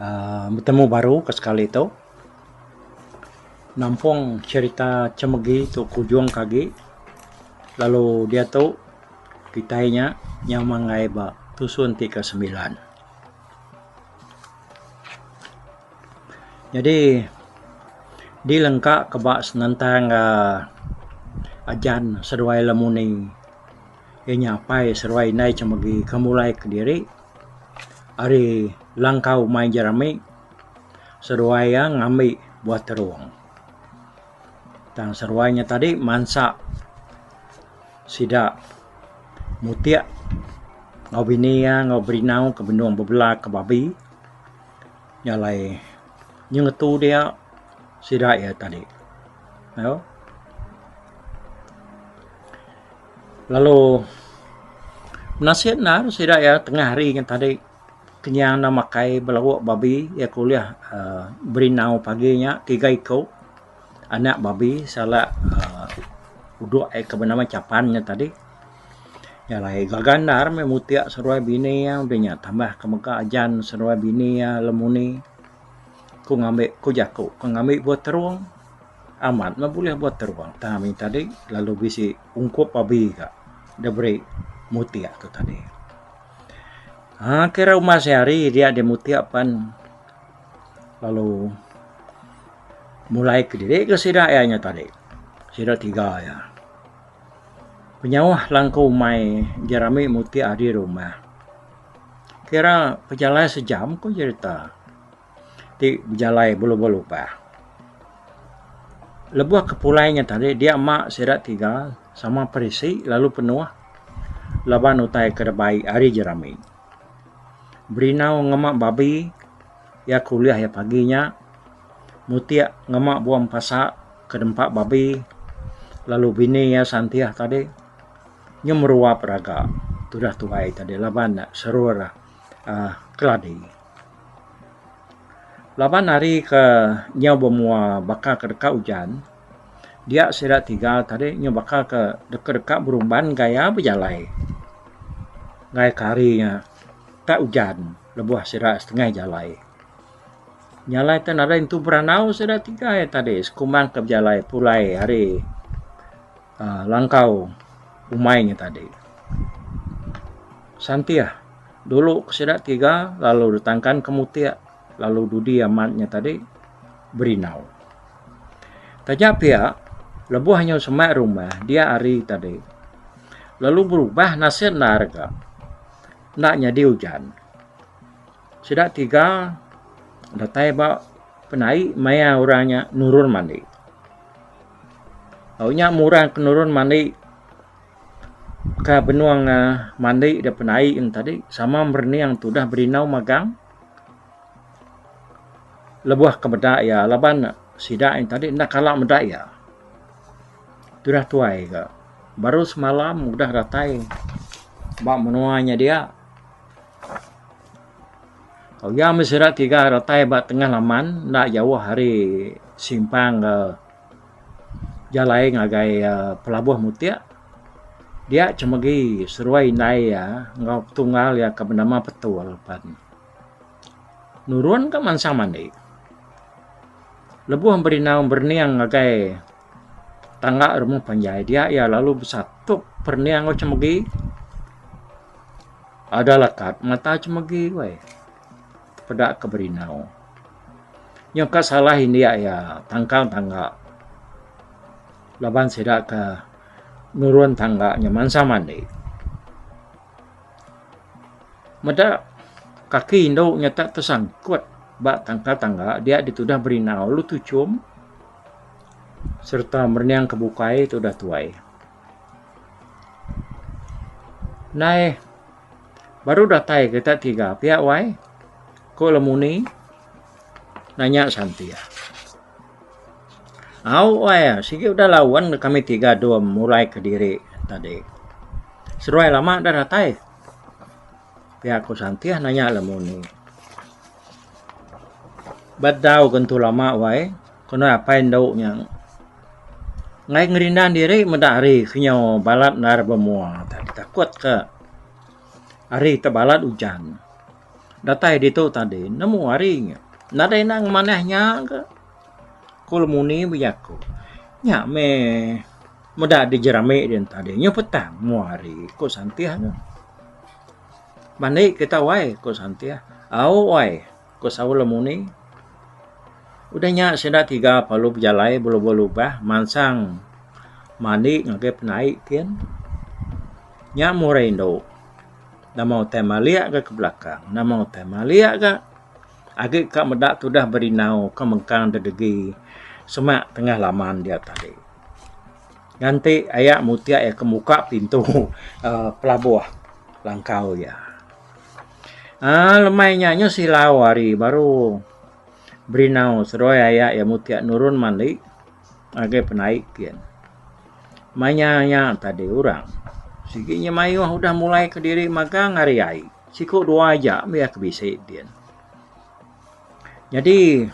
aaa betemu baru ke sekali tu nampung cherita chemegi tu kujung ke agi lalu diatu kitai nya nyau manggai ba tusun ti ke sembilan. Nyadi di lengka ke ba senentang aaa ajan seduai lemuni inya apai seduai indai chemegi ke mulai kediri Ari langkau mai jerami seduai iya ngambi buah terung tang seduai nya tadi mansa sida mutik enggau bini iya enggau berinau ke benung bebela ke babi nya alai nyeng ngetu dia sida iya tadi. Lalu menasih endar sida iya tengah hari ngan tadi kenyau enda makai belawa babi iya ke ulih aaa berindau pagi nya tiga iku anak babi sala aaa udok iya ke benama chapan nya tadi nya alai gaga endar meh mutik seduai bini iya udah nya tambah ke mega ajan seduai bini iya lemuni ku ngambi ku jaku ku ngambi buah terung. Amat meh bulih buat teruang tang ami tadi lalu bisi ungkup abi ka diberi mutik tu tadi. Um kira uma sehari dia di mutik pan lalu mulai kediri ke sida iya nya tadi sida tiga iya. Penyauh langkau umai ji rami mutik ari rumah kira pejalai sejam ku cerita. ti bejalai belu-belu pah. Lebuh ke pulai nya tadi dia ema sida tiga sama perisi lalu penuh laban utai ke deka bai hari je rami. Berinau ngema babi iya ke ulih iya pagi nya mutik ngema bua mepasa ke nempa babi lalu bini iya Santih tadi nyuh meruap raga tudah tuai tadi laban serur aaa keladi. Laban hari ke nyau bemua baka ke deka ujan, dia sida tiga tadi nyau baka ke deka deka berumban gaya bejalai ngagai ke hari nya tak ujan lebuh sida setengah jalai. Jalai te nadai nentu berandau sida tiga iya tadi sekumbang ke bejalai pulai ari aaa langkau umai nya tadi. Santih. Dulu ke sida tiga lalu ditangkan ke mutik lalu dudi amat nya tadi berindau. Taja pia, lebuh anyu semak rumah dia hari tadi lalu berubah nasit endar ga enda nyadi ujan. Sida tiga datai ba penai maya orang nya nurun mandi. Au nya murang ke nurun mandi. ka benung um mandi da penai eng tadi sama merening tudah berindau magang lebuh ke meda iya laban ne sida ain tadi enda kala meda iya tudah tuai ga baru semalam udah datai ba menua nya dia. Tau iya meh sida tiga datai ba tengah laman enda jauh ari simpang ga Jalai ngagai pelabuh mutik dia cemegi seruai indai iya enggau petunggal iya ke benama Petul pen nurun ka mansang mandi lebuh berinau berening ngagai tangga rumah panjai dia iya lalu besatup perening enggau cemegi ada lekat mata cemegi weh. Peda ke berindau. Nyau ka salah indik iya tangkang tangga. Laban sida ke nurun tangga nyau mansa mandi. Meda kaki indu nyau tak tersangkut ba tangkang tangga dia ditudah berindau lalu tuchum sereta merening ke bukai tudah tuai. Nai baru datai kita tiga pia wai ko le muni nanya santi ah au wai ah sigi udah laun le kami tiga dua mulai kediri tadi seduai lama dah datai pia ko santi ah nanya le muni ba dau ke entu lama wai Ko nuan apai endu nya enggai ngerindan diri meda hari ke nyau balat endar bemua tadi takut ke hari te balat ujan datai ditu tadi nemu hari nya nadai enda ngemanah nya ke ko lemuni bejaku nya meh meda di jerami dian tadi nyau petang mua hari ko Santih mandi kita wai ko Santih au wai. Ku Saul lemuni, Udah nya sida tiga parlu bejalai belebuh lubah mansang mandi ngagai penai kin. Nya meh orang indu. Nama utai malik ga ke belakang, nama utai malik ga agi ka meda tudah berindau ke mengkang dedegi semak tengah laman dia tadi. Nganti aya mutik iya ke muka pintu uhh pelabuh langkau iya. Ah, lemai nya nyu silau hari baru berinau seroi aya iya mutik nurun mali ngagai penai kin. Manya nya tadi orang sigi nya mayuh udah mulai kediri magang ari ai. Siku dua aja mih iya ke bisi din. Jadi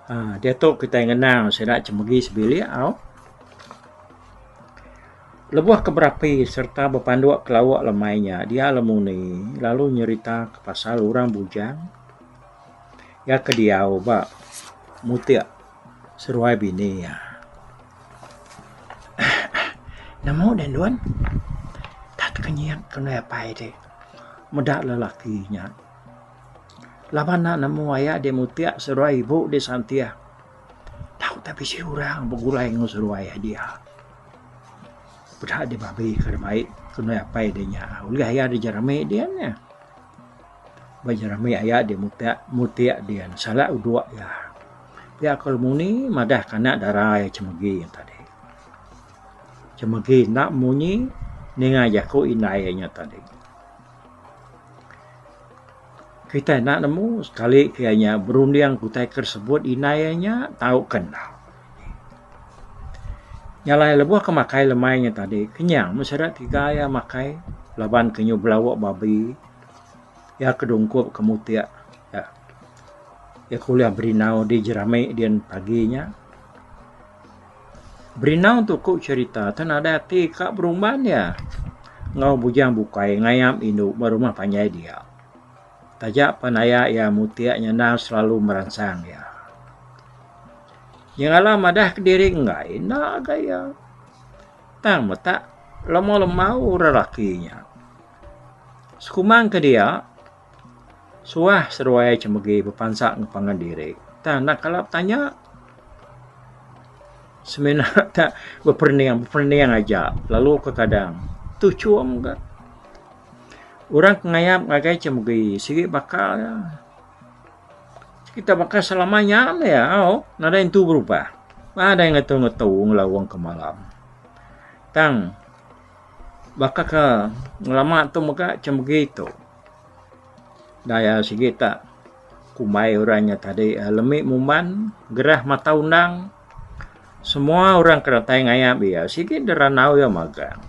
aaa diatu kitai ngenang sida chemegi sebilik au lebuh ke berapi sereta bepanduk ke lauk lemai nya dia lemuni lalu nyerita ke pasal orang bujang iya ke diau ba mutik seruai bini iya. Nemu deh nuan tat kenyit ke ndai apai dih meda lelaki nya. Laban nya nemu aya di mutiak seduai ibu di Santiah tau teh bisi orang begulai ngan seduai iya dia peda di babi ka da bai ke nui apai di nya ulih aya di jerami dian nya ba jerami aya di mutiak mutiak dian sala udok iya pia ko lu muni madah ke anak dara iya chemegi nya tadi chemegi enda munyi ninga jaku indai iya nya tadi. Kitai enda nemu sekali ke iya nya berunding ke utai ke sebut indai iya nya tau ke enda. Nya alai lebuh ke makai lemai nya tadi kenyang meh sida tiga iya makai laban ke nyau belawu babi iya ke dungkup ke mutik iya iya ke ulih berindau di jerami dian pagi nya. Berinau tu ku cerita tu nadai ati ka berumban iya enggau bujang bukai ngayam indu ba rumah panjai dia. Taja pan aya iya mutik nyanda selalu meransang iya. Iya ngalah madah kediri enggai enda agak iya. Tang metak lemau-lemau orang laki nya. Sekumang ke dia. Suah seruai cemegi bepansa ngepangan diri. Tang enda kala betanya semina ka beperening beperening aja lalu ke kadang tu chum ka. Orang ke ngayap ngagai cemegi sigi baka iya. Kita baka selama nya meh au nadai entu berubah. Nadai ngetu ngetu ngelawang ke malam. Tang. Baka ke ngelama tu mega ceh megi tu. Daya sigi ta kumbai orang nya tadi lemi muman gerah mata undang semua orang ke datai ngayap iya sigi da randau iya magang.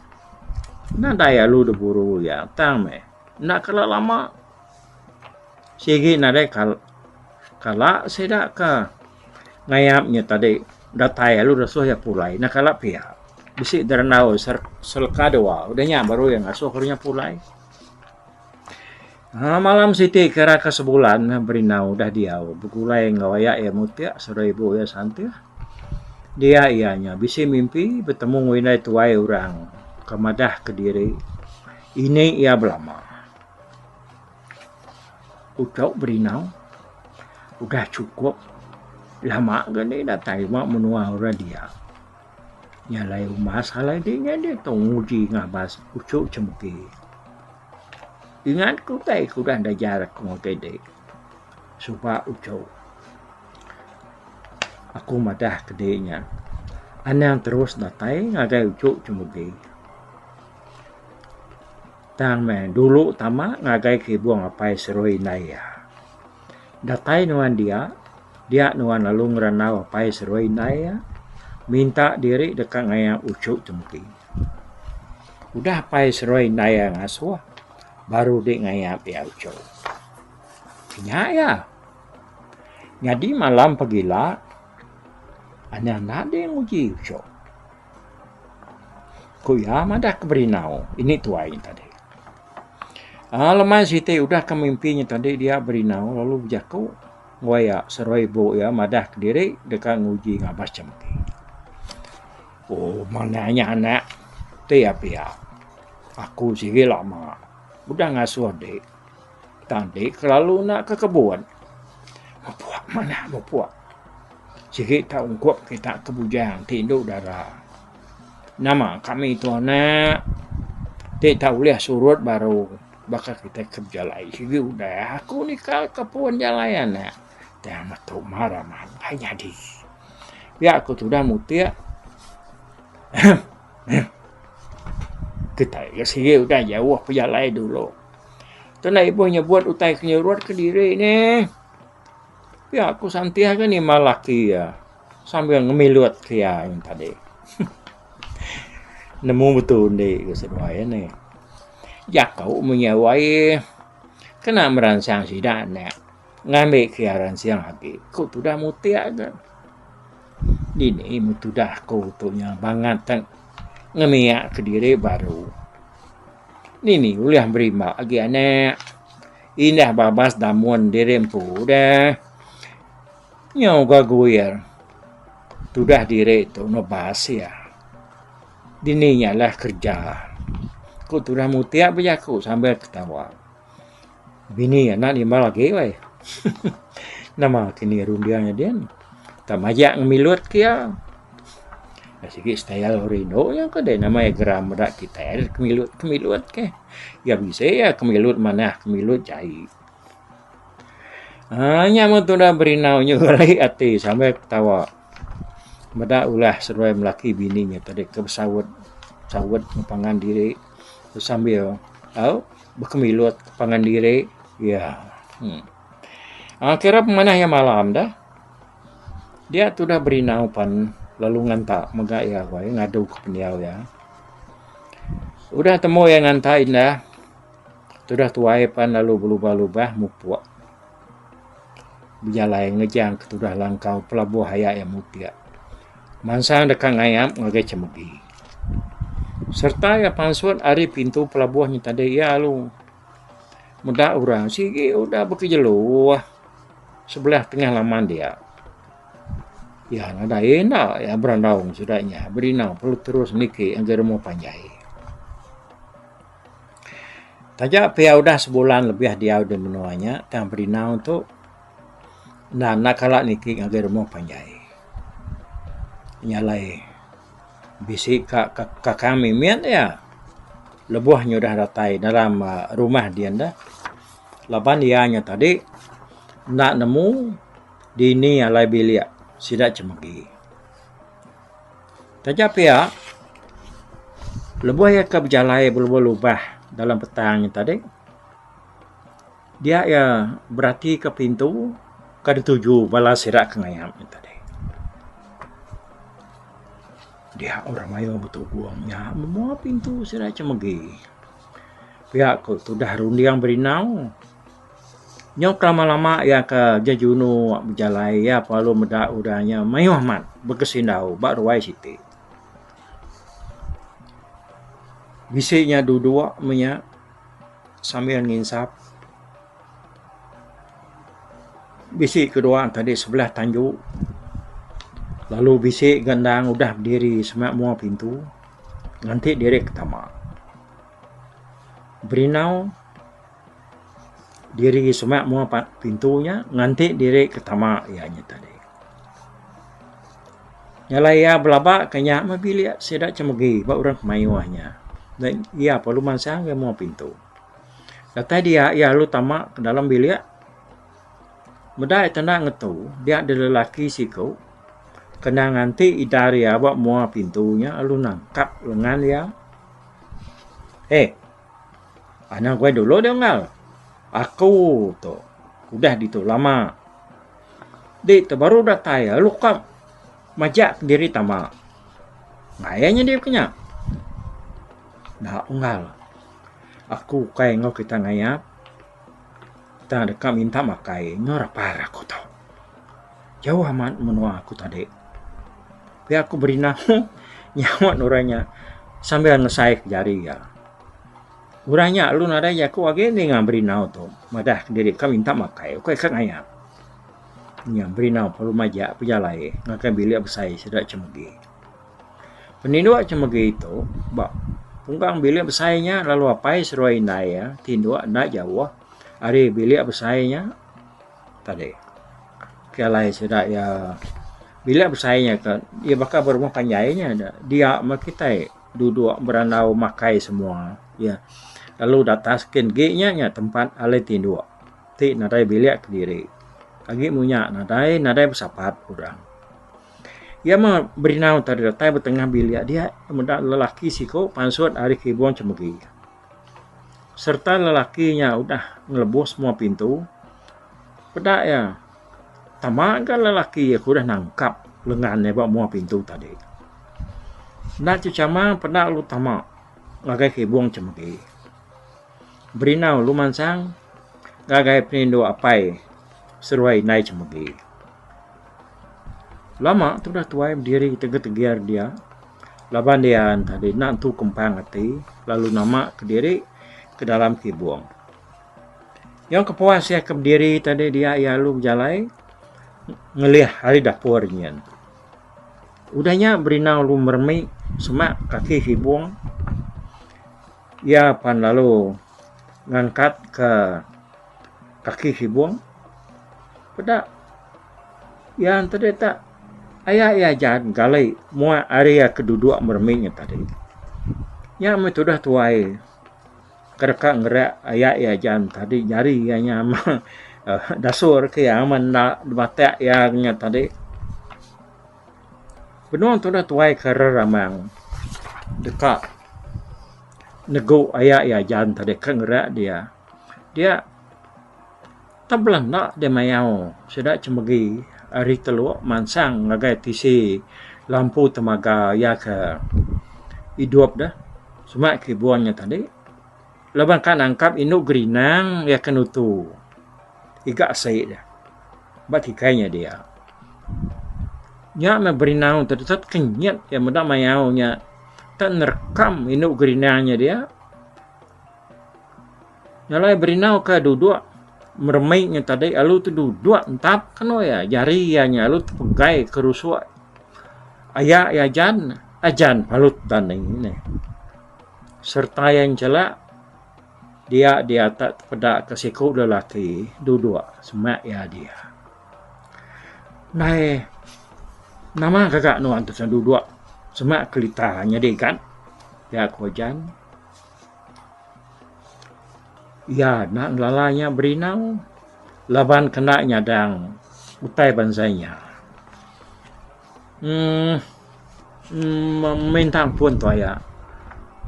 Enda daya lu da buru iya tang meh enda kala lama. Sigi nadai kal kala sida ke ngayap inya tadi datai lalu ngesuh iya pulai ina kala pia. Bisi derendau ser serka dua udah nya baru iya ngesuh inya pulai. Aaa malam siti kira ke sebulan ne berindau udah diau begulai enggau aya iya mutik saudara ibu iya santih. Dia iya nya bisi mimpi betemu enggau indai tuai orang ke madah ke diri ini iya belama. Utok Berindau udah chukup lama ga deh datai ba menua orang dia. Nya alai umbas alai deh nya deh tau nguji ngabas uchu chemki. Ingat ku utai ku udah ajar aku ngagai deh suba uchu. Aku madah ke deh nya anang terus datai ngagai uchu chemki. Tang meh, dulu tama ngagai Kibung Apai Seroi indai iya. Datai nuan dia, dia nuan lalu ngerandau Apai Seroi indai iya, minta diri deka ngaya uchu Tempi. Udah Apai Seroi indai iya ngasuh, baru dih ngaya iya uchu. Kinya iya. Nyadi malam pagila, Anang enda dih nguji uchu. Ku iya madah ke Berindau, Ini tuai nya tadi. Ah, lemai siti udah ke mimpi nya tadi dia Berindau lalu bejaku enggau iya seruai ibu iya madah kediri deka nguji ngabas champi. Oh, manah nya anak ti iya pia. Aku sigi lama udah ngasuh dik. Tadi kelalu enda ke kebun. Bepuak manah bepuak. Sigi tau ungkup kita ke bujang ti indu dara. Nama kami tu anak ti tau ulih surut baru baka kita ke bejalai sigi udah aku nikal ke pun jalai anak. Tang metu mara mabai nyadi. Pia aku tudah mutik. Ahem. Ahem. Kitai ke sigi udah jauh pejalai dulu. Kena ibuh nyebut utai ke nyerut ke diri ne. Pia ku Santih ke nimbal laki iya sambil ngemilut ke iya ain tadi. Nemu betu undi ku seduai ne. Jaku meh iya wai kena meransang sida enda ngambi ke iya ransing agi ku tudah mutik ke. Dini meh tudah aku tu nya bangat tang ngemiak ke diri baru. Dini ulih berima agi anak. Indah babas damun diri empu dah. Nyau ga guir tudah diri tu nebas iya. Dini nya lah kerja. Ku tudah mutik bejaku sambil ketawa. Bini anak nimbal agi weh. Nama ke ni runding nya din. Tak majak ngemilut ke iya. Dah sigi style orang Indo nya ke deh nama iya geram meda kitai deh kemilut kemilut ke. Iya bisi iya kemilut manah kemilut jai. Haa nya mun tudah berinau nyu geli ati sambil ketawa. Meda ulah seruai melaki bini nya tadi ke besaut saut ngepangan diri. Sambil bekemilut pangan diri iya. Kira pemanah iya malam dah. Dia tu udah berinau pan lalu nganta mega iya agoi ngadu ke pendiau iya. Udah temu iya nganta indah tudah tuai pan lalu belubah-lubah mupuk bejalai ngejang ke tudah langkau pelabuh aya iya mutik. Mansang deka ngayap ngagai chemegi sereta iya pansut ari pintu pelabuh nya tadi iya alu meda orang sigi udah bekejelu sebelah tengah laman dia. Iya nadai enda iya berandau ngan sida nya berinau perlu terus niki ngagai rumah panjai. Taja pia udah sebulan lebih diau di menua nya tang berinau tu Enda enda kala niki ngagai rumah panjai. Nya alai bisi ka ka kami mit iya lebuh inya udah datai dalam rumah dian deh laban iya nya tadi enda nemu dini alai bilik sida chemegi. Taja pia lebuh iya ka bejalai ba lubah dalam petang nya tadi Dia iya beratika pintu ke dituju bala sida ke ngayap nya tadi. Dia orang mayuh betubung nya memoa pintu sida ke megi. Pia ku tudah runding berindau. Nyau ke lama lama iya ke jejunu bejalai iya lalu meda udah nya mayuh amat begesindau ba ruai siti. Bisi nya duduk menya. Sambil nginsap, bisi ke dua tadi sebelah tanju lalu bisi ke endang udah bediri sema mua pintu nganti diri ke tama. Berinau diri sema mua pintu nya nganti diri ke tama iya nya tadi. Nyalai iya belaba ke nya meh bilik sida chemegi ba orang ke mayuh nya. Neh iya perlu mansang iya muah pintu. Datai dia iya lalu tama ke dalam bilik meda iya tanda ngetu dia deh lelaki siku kena nganti ida ari iya ba muah pintu nya lalu nangkap lengan iya. Hei anang guai dulu deh unggal. Aku tu udah ditu lama. Dei tu baru datai iya lalu ka majak diri tama. Ngaia nya diri kinya. Enda unggal. Aku ukai enggau kita ngaia tang deka minta makai enggau rapar aku tu. Jauh amat menua aku tadi. Pia aku berinah nyaut orang nya sambil ngesai jari iya. Udah nya lalu nadai jaku agi enti ngan Berinau tu madah kediri ka minta makai ukai ka ngayap. Nya Berinau perlu majak pejalai ngagai bilik besai sida Chemegi. Peninduk Chemegi tu ba pungkang bilik besai nya lalu apai seruai indai iya ti nduk enda jauh ari bilik besai nya tadi. Pia alai sida iya bilik besai nya ka iya baka berumah panjai nya dia meh kitai. duduk berandau makai semua ya lalu da atas kin gi nya nya tempat alai tinduk ti nadai bilik kediri agi mung nya nadai nadai besapat orang ya mah berindau tadi datai betengah bilik dia meda lelaki siko pansut ari kibung chemegi serta lelaki nya udah ngelebus semua pintu peda ya. Tama ga lelaki aku udah nangkap lengan iya ba mua pintu tadi. Enda chechama peda lu tama ngagai kibung chemegi. Berinau lu mansang ngagai penindu apai seruai indai chemegi. Lama tu udah tuai bediri tegir-tegir dia laban dia enti tadi enda tentu kempang ati lalu nama kediri ke dalam kibung. Nyau kepuas iya ke bediri tadi dia iya alu bejalai ngelih ari dapur nyin. Udah nya Berina alu meremi semak kaki Hibung iya pan lalu ngangkat ke kaki Hibung peda iya enti dita aya iya jaan gali muak ari iya ke duduk meremi nya tadi. Nya meh tudah tuai. Ke deka ngereak aya iya jaan tadi jari iya nya meh dasur ke iya meh enda dibatak iya nya tadi. Benung tudah tuai ke reramang deka negu aya iya jaan tadi ke ngereak dia dia Tang bela enda deh mayau sida cemegi ari Teluk Mansang ngagai tisi Lampu Temaga iya ke idup deh sema kibung nya tadi laban ka nangkap indu gerinang iya ke nutu iga asi deh ba kikai nya dia. Nya meh berinau tetet ke nyit iya meda mayau nya tang nerekam indu gerinang nya dia. Jalai berindau ke duduk meremik nya tadi alu tu duduk entap ke anu iya jari iya nya alu tepegai ke rusuk aya iya jan ajan palut tani ne serta iya nchelak dia diatak tepeda ke siku lelaki duduk semak iya dia nai nama gaga nuan tesen duduk semak kelita nyadi gat pia ko jan. Iya enda ngelala inya berinang laban kena nyadang utai bansa inya. Uhh uhh mintang pun tu aya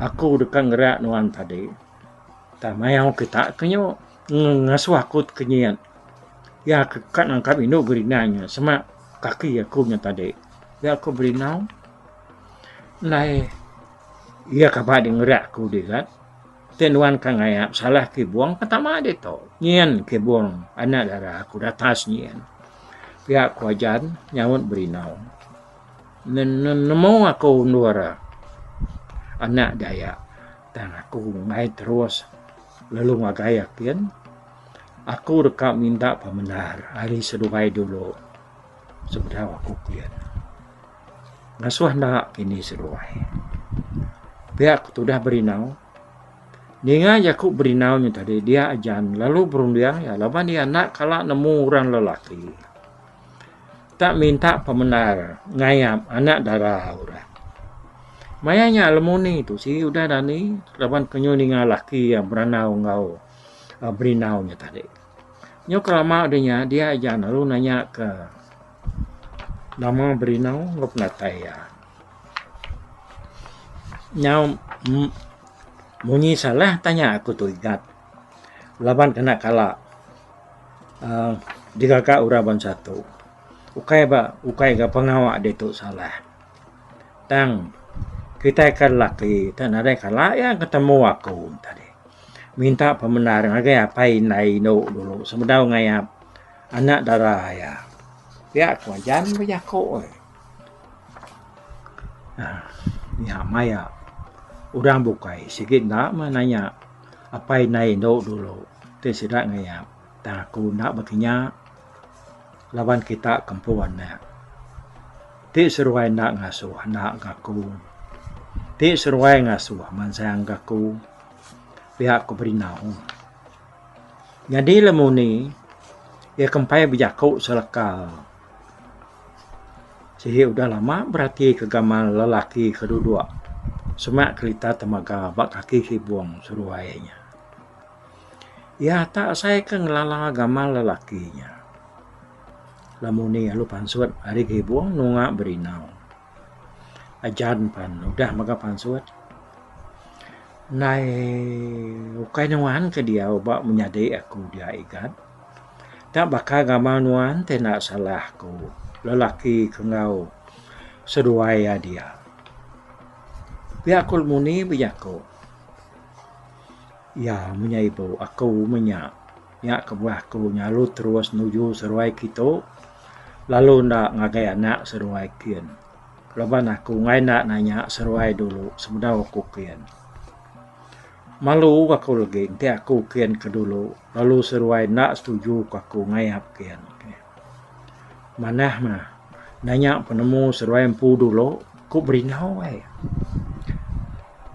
aku deka ngereak nuan tadi tang mayau kita ke nyu ngasuh aku ti kenyit iya ke ka nangkap indu berinang inya sema kaki aku nya tadi. Nya ku berinang alai. Iya kaba di ngeri aku diga. Ti nuan ka ngaya besalah kibong ka tama ditu. Nyin kibong anak dara aku datas nyin. Pia ku Ajan nyaut berindau. Nemu aku endur anak daya tang aku ngai terus lalu ngagai akin. Aku deka minta pemendar ari seduai dulu sebedau aku kian. Ngasuh enda kini seduai. Pia ku tudah berindau. Ninga jaku berindau nya tadi dia aja lalu berunding iya laban iya enda kala nemu orang lelaki tak minta pemendar ngayap anak dara orang. Maya nya lemu ni tu si udah dani laban ke nyu ninga lelaki iya berandau enggau berindau nya tadi. Nyu kelama deh nya dia aja lalu nanya ke Nama berinau enggau penatai iya? Nyau munyi salah tanya aku tu igat laban kena kala aaa digaga orang bansa tu ukai ba ukai ga pengawa ditu salah tang kitai ke lelaki ti nadai kala iya ketemu aku tadi minta pemendar ngagai apai indai indu dulu sebedau ngaia. Anak dara iya. Pia ku Anjan bejaku. Nya maya orang bukai sigi enda meh nanya apai indai indu dulu ti sida ngayak tang aku enda bekinya laban kita kempun meh. Ti seruai enda ngasuh anak ga aku. Ti seruai ngasuh mansang ga aku. Pia ku Berindau. Nyadi lemuni iya kempai bejaku selaka sigi udah lama berati ke gamal lelaki ke dudok semak kerita temaga ba kaki sibung seruai nya. Iya ta asai ke ngelala gamal lelaki nya. Lemuni alu pansut ari sibung nunga berinau. Ajan pan udah mega pansut ndai ukai nuan ke diau ba menyadi aku dia igat da baka gamal nuan ti enda salah aku lelaki ke enggau seduai iya dia. Pia ku lemuni bejaku iya menya ibu aku menya. Nya kebuah aku nyalu terus nuju seruai kitu lalu enda ngagai anak seruai kin. Laban aku enggai enda nanya seruai dulu sebedau aku kin. Malu aku legi enti aku kin ke dulu lalu seruai enda setuju ku aku ngayap kin. Manah mah nanya penemu seruai empu dulu ku berindau ai.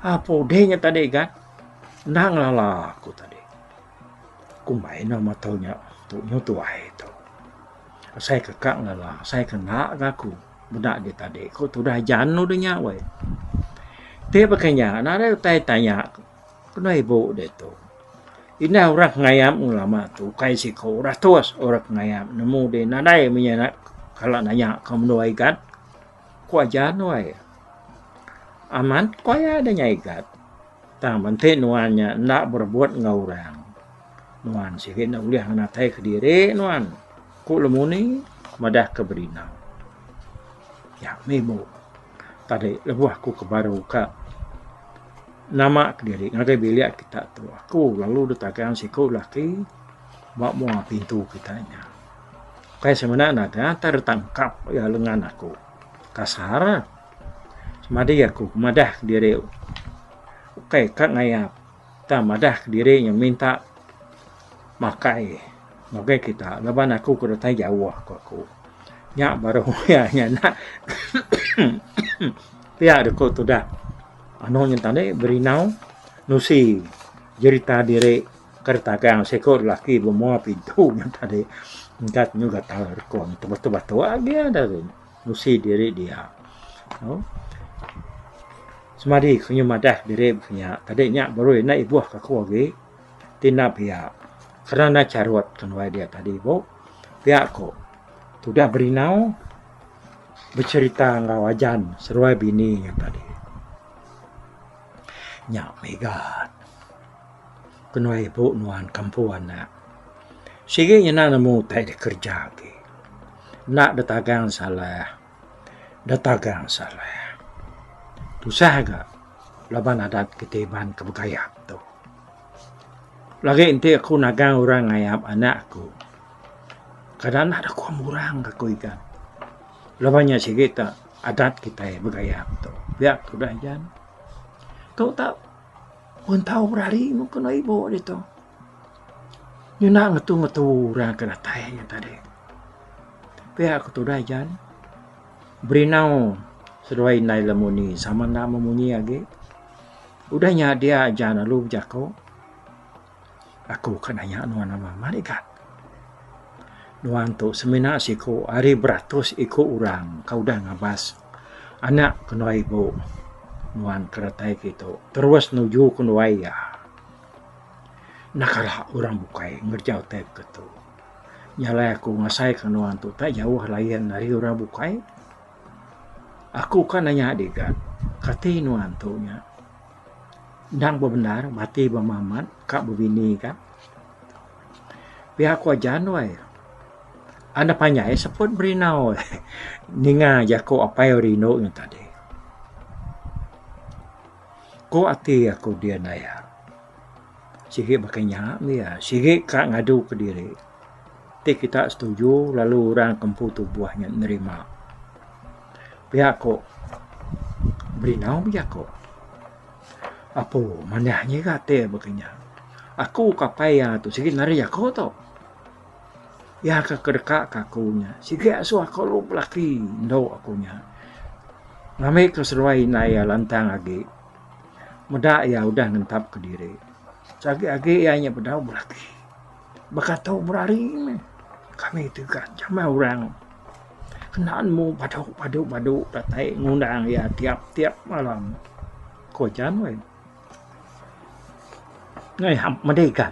Apo udih nya tadi gat? Enda ngelala aku tadi. Kumbai enda meh tau nya tu nyu tuai tu. Asai ke ka ngela asai ke enda ga aku meda agi tadi ku tudah jan udah nya weh. Ti pah ke nya nadai utai tanya kena ibu ditu. Indah orang ngayam lama tu ukai siko ratus orang ngayam nemu di nadai meh iya nya kala nanya ke menua Igat ku aja nuai. Amat ku aya nya Igat. Tang menti nuan nya enda berebut enggau orang, nuan sigi enda ulih ngenatai kediri nuan, ku Lemuni madahka Berina. Nya mih bu, tadi lebuh aku ke baru ka nama kediri ngagai bilik kita tu, aku lalu ditagang siku lelaki ba mua pintu kita nya. Ukai semina nagang tang ditampkap iya lengan aku. Kasar. Semadi aku ke madah kediri ukai ka ngayap tang madah kediri nya minta makai ngagai kita laban aku ke datai jauh ku aku. Nya baru iya nya enda pia deh ku tudah anu nya tadi berindau nusi jerita diri ke ditagang siko lelaki bemua pintu nya tadi engka nyu gatal ko tebatu-batu agi dah tu. nusi diri dia. Semadi ku nyu madah diri baka nya tadi nya baru enda ibuh ka aku agi ti enda pia kerna enda charut ke nuai dia tadi bu pia ku tudah berindau becerita enggau ajan seruai bini nya tadi nya mega. ke nuan ibu nuan kampung anak sigi ngena nemu utai da kerja agi enda da tagang salah da tagang salah tusah ga laban adat kita iban ke begayap tu lagi enti aku nagang orang ngayap anak aku kada anak da kuan murang ga ku igan laban nya sigi ta adat kita begayap tu pia tudah jan tu ta. Pun tau berari ngena ibu ditu. Ngena ngetu-ngetu orang ke datai nya tadi. Pia ku tudah Jan, Berinau seduai indai lemuni sama enda memunyi agi. Udah nya dia Jan lalu bejaku. Aku ka nanya nuan amat amat ega. Nuan tu semina siku ari beratus iku orang ka udah ngabas anak kenuai ibu nuan ke datai ke tu terus nuju kenuai iya. Enda kala orang bukai ngereja utai ke tu. Nya alai aku ngasai ke nuan tu tak jauh layan ari orang bukai. Aku ka nanya diga kati nuan tu nya. Endang bebendar bati ba Mamat ka bebini ka. Pia aku aja nuai. Anda panjai seput berinau ninga jaku apai au rindu ngan tadi. Ku ati aku dia naya. Sigi baka nya mih iya. Sigi ka ngadu ke diri. Ti kita setuju lalu orang ke empu tubuh nya nerima. Pia ko Berinau bejako. Apo manah nyiga te baka nya. Aku ke apai iya tu sigi nari jako to. Iya ke kedeka ke aku nya sigi asu ako lu belaki endo aku nya. Ngambi ke seluai indai iya lantang agi meda iya udah ngentap ke diri. Sagi agi iya nya bedau belaki. Baka tu berari meh kami ti ga jamai orang kena nemu padu padu datai ngundang iya tiap tiap malam ko jan weh. Ngai hap madi ga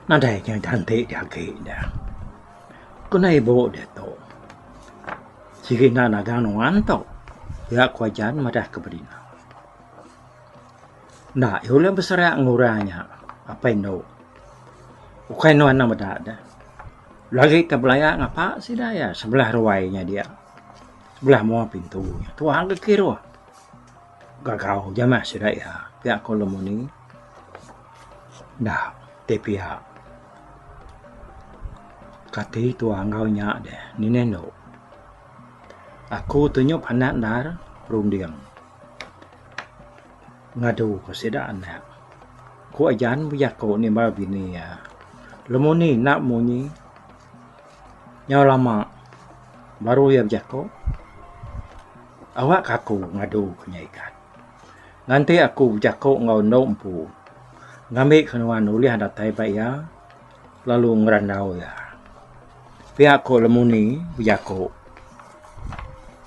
nadai inya ganti di agi nya. Ko nai ibu diatu sigi enda nagang nuan tu iya ko jan madah ke bedina. Enda iya ulih beserak enggau orang nya apai endo. Ukai endo anak meda de. Lagi ke belaya ngapa sida iya sebelah ruai nya dia. Sebelah mua pintu nya tuwa ke kiruh. Gagau aja meh sida iya pia ko lemuni. Enda ti pia kati tuwa enggau nya deh. Ngini endo. Aku tu nyau pandak endar runding. Ngadu ku sida anak, ku ajan bejaku nimbal bini iya, lemoh ni enda munyi, nyau lama baru iya bejaku, awakka aku ngadu ku nya ikan. Nganti aku bejaku enggau enda empu, ngambi ke nuan ulih datai ba iya lalu ngerandau iya. Pia ku lemoh ni bejaku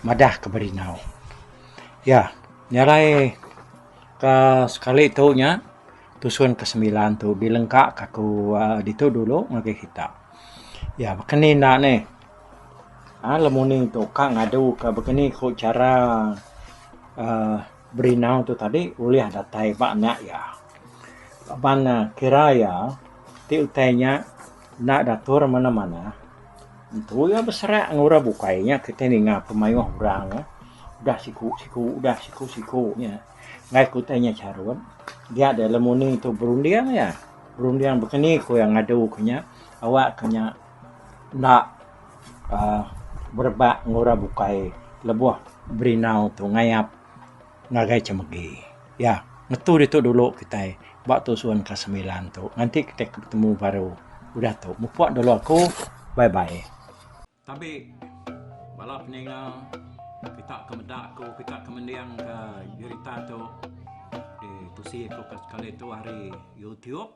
madah ke beringau. Ya, nyarai ka sekali tu nya tusun ke semilan tu bilengka ka ku ditu dulu ngagai kita. Ya baka ni enda neh alu nih tu ka ngadu ka baka ni ku chara aaa berinau tu tadi ulih datai ba nya iya. Laban ne kira iya ti utai nya Enda datur manah-manah, entu iya beserak enggau orang bukai nya kitai ninga pemayuh orang nya udah siku-siku udah siku-siku nya enggai ku utai nya charut dia da lemu ni tu berunding iya, berunding baka ni ku iya ngadu ku nya awak ku nya enda aaa berebak enggau orang bukai lebuh berindau tu ngayap. ngagai chemegi ya ngetu ditu dulu kitai ba tusun ka semilan tu nganti kitai ke betemu baru udah tu mupok dulu aku bye bye. Tabi bala peninga kita ke meda aku kita ke mending ka berita tu ditusi ku ka sekali tu ari youtube.